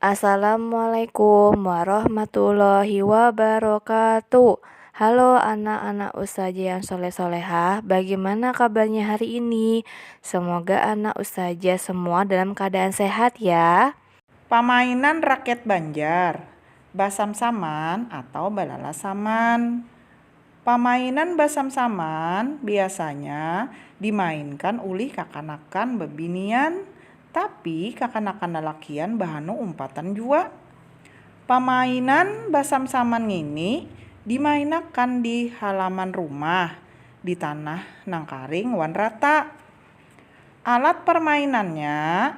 Assalamualaikum warahmatullahi wabarakatuh Halo anak-anak ustazah yang soleh-solehah Bagaimana kabarnya hari ini? Semoga anak ustazah semua dalam keadaan sehat ya. Pamainan rakyat Banjar, Basam-saman atau Balalasaman. Pamainan basam-saman biasanya dimainkan ulih kakanakan babinian, tapi kakanakan lalakian bahanu umpatan jua. Pamainan basam-saman ngini dimainakan di halaman rumah, di tanah nang karing wan rata. Alat parmainannya,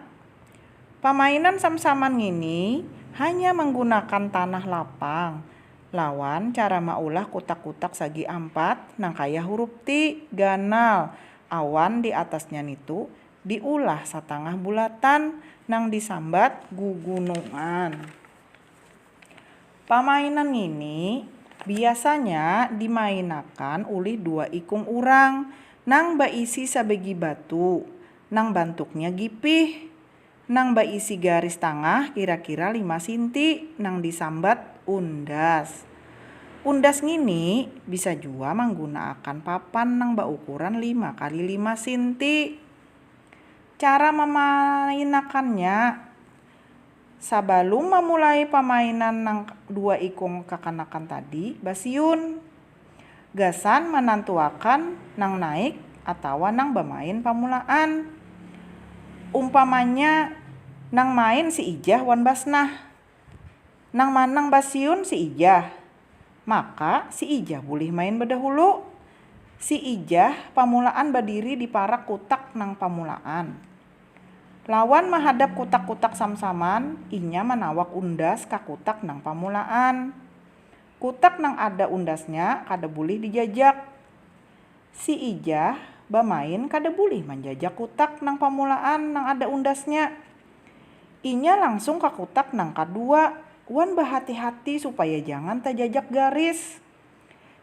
Pamainan sam-saman ngini hanya manggunakan tanah lapang. Lawan cara maulah kutak-kutak sagi ampat nang kaya hurup T ganal awan di atasnya nitu diulah satangah bulatan nang disambat gugunungan. Pamainan ngini biasanya dimainakan ulih dua ikung urang nang baisi sabagi batu nang bantuknya gipih. Nang baisi garis tangah kira-kira lima sinti nang disambat undas. Undas ngini bisa jua manggunaakan papan nang baukuran lima kali lima sinti. Cara mamainakannya, Sabalum mamulai pamainan nang dua ikung kakanakan tadi basiun. gasan manantuakan nang naik atawa nang bamain pamulaan. Umpamanya nang main si Ijah wan Basnah. Nang manang basiun si Ijah, maka si Ijah bulih main badahulu. Si Ijah pamulaan badiri di parak kutak nang pamulaan. Lawan mahadap kutak-kutak samsaman, inya manawak undas ka kutak nang pamulaan. Kutak nang ada undasnya kada bulih dijajak. Si Ijah bamain kada bulih manjajak kutak nang pamulaan nang ada undasnya. Inya langsung ka kutak nang kadua wan bahati-hati supaya jangan tajajak garis.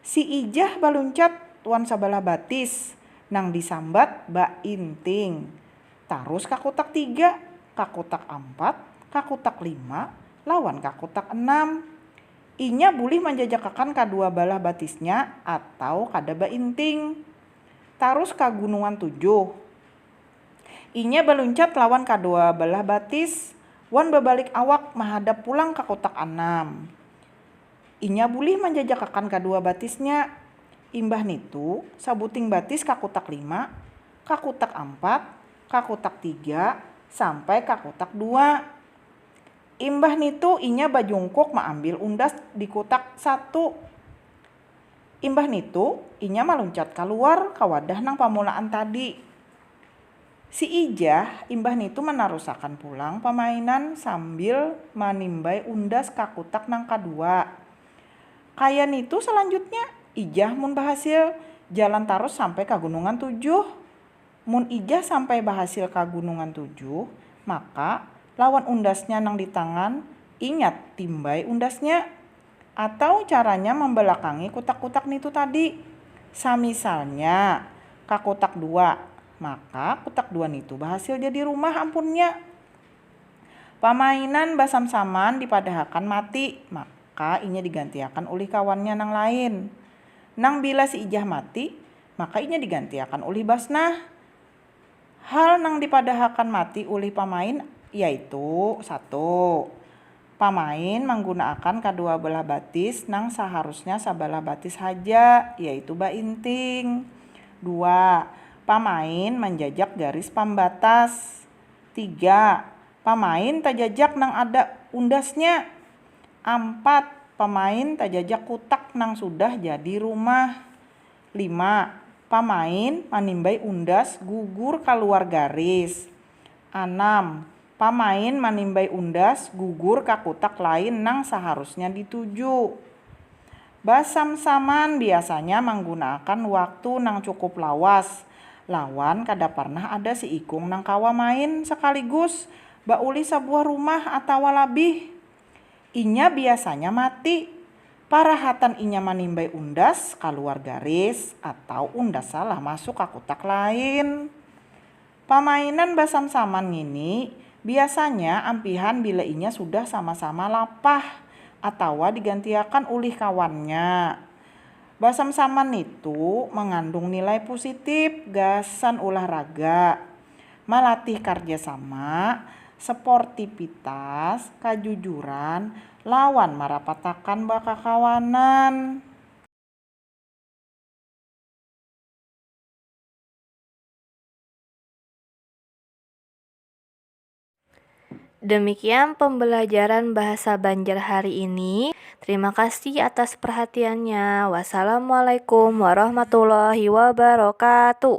Si Ijah baluncat wan sabalah batis nang disambat bainting, tarus ka kutak tiga, ka kutak ampat, ka kutak lima, lawan ka kutak enam. Inya bulih manjajakakan kadua balah batisnya atau kada bainting. Tarus ka Gunungan Tujuh. Inya baluncat lawan kadua balah batis wan babalik awak mahadap pulang ka Kutak Anam. Inya bulih manjajakakan kadua batisnya. Imbah nitu, sabuting batis ka Kutak Lima, ka Kutak Ampat, ka Kutak Tiga, sampai ka Kutak Dua. Imbah nitu inya bajungkuk maambil undas di kutak satu. Imbah nitu inya maluncat kaluar ka wadah nang pamulaan tadi. Si Ijah imbah nitu manarusakan pulang pamainan sambil manimbai undas ka kutak nang kadua. Kaya nitu salanjutnya, Ijah mun bahasil, jalan tarus sampai ka Gunungan Tujuh. Mun Ijah sampai bahasil ka Gunungan Tujuh, maka, lawan undasnya nang di tangan, ingat timbai undasnya. Atau caranya mambalakangi kutak-kutak nitu tadi. Samisalnya, ka kutak dua, maka kutak dua nitu bahasil jadi rumah ampunnya. Pamainan basam-saman dipadahakan mati, maka inya digantiakan ulih kawannya nang lain. Nang bila si Ijah mati, maka inya digantiakan ulih Basnah. Hal nang dipadahakan mati ulih pamain yaitu, satu. Pamain manggunaakan kadua belah batis nang saharusnya sabalah batis haja, yaitu bainting. Dua. Pamain manjajak garis pambatas. Tiga. Pamain tajajak nang ada undasnya. Ampat. Pamain tajajak kutak nang sudah jadi rumah. Lima, pamain manimbai undas gugur kaluar garis. Anam, pamain manimbai undas gugur ka kutak lain nang saharusnya dituju. Basam-saman biasanya manggunaakan waktu nang cukup lawas lawan kada parnah ada siikung nang kawa main sakaligus baulih sabuah rumah atawa labih. Inya biasanya mati. Parahatan inya manimbai undas kaluar garis atau undas salah masuk ka kutak lain. Pamainan basam-saman ngini biasanya ampihan bila inya sudah sama-sama lapah atawa digantiakan ulih kawannya. Basam-saman nitu mangandung nilai pusitip gasan ulah raga. malatih karjasama, seportipitas, kajujuran, lawan marapatakan bakakawanan. Demikian pembelajaran bahasa Banjar hari ini. Terima kasih atas perhatiannya. Wassalamualaikum warahmatullahi wabarakatuh.